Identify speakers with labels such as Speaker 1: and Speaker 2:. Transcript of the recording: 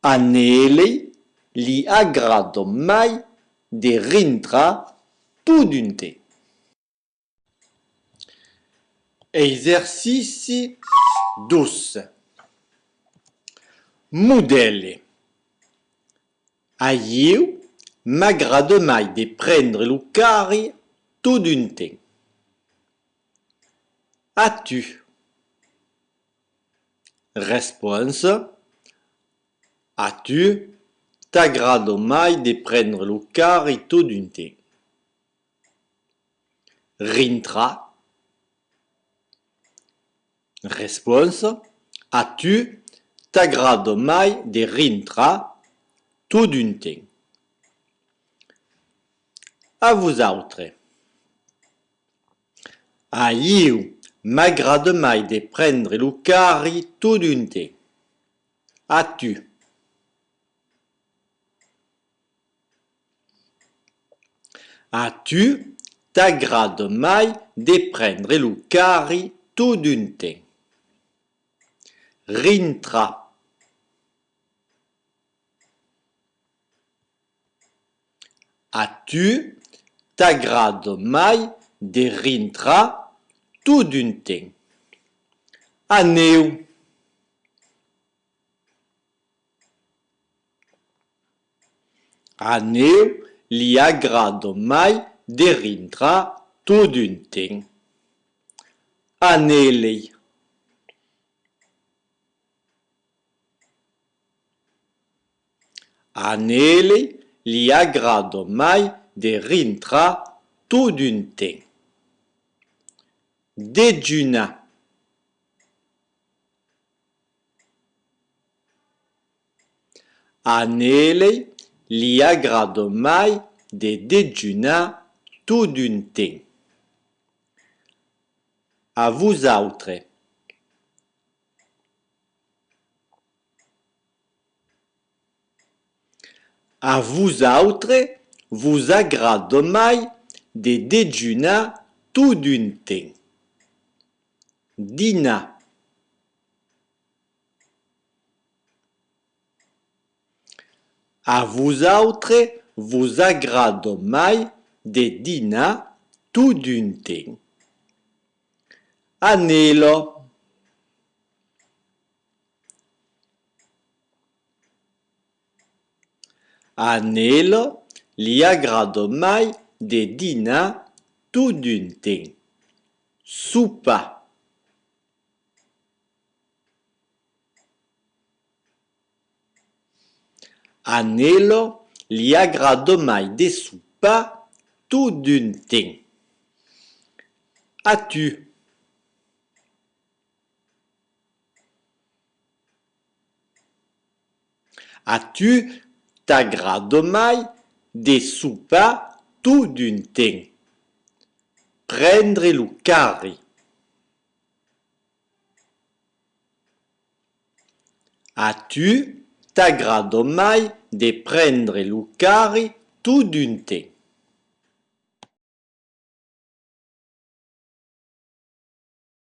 Speaker 1: A Neeley li agrada mai de rintrar totun te. Exercici 2. Modèle. A ieu m'agrada mai de prendre lo carri totun te. A tu? Responsa, A tu, t'agrada mai de prendre lo carri todun temps? Rintra. Responsa, A tu, t'agrada mai de rintrar todun temps? A vos autres. A ieu m'agrade mai de prendre lo carri todunte. A tu? A tu t'agrade mai de prendre lo carri todunte. Rintra. A tu t'agrad mai de rintrar tot d'un temps? Aneu! Aneu li agrad mai de rintrar tot d'un temps. Anelei. A Nelly li agrada mai de rintrar todun ten. Dejunar. A Nelly li agrada mai de dejunar todun ten. A vosautre. A vosautre vos agradde mai de dejunar tot d'un ten. Dinar. A vosautre vos agradde mai de dinar tot d'un ten. Anèla. A Nelo li agrada mai de dinar tot d'un temps, sopar. A Nelo li agrada mai de sopar tot d'un temps. A tu? A tu t'agrada mai de sopar tot d'un temps, prendre lo carri? A tu t'agrada mai de prendre lo carri tot d'un temps?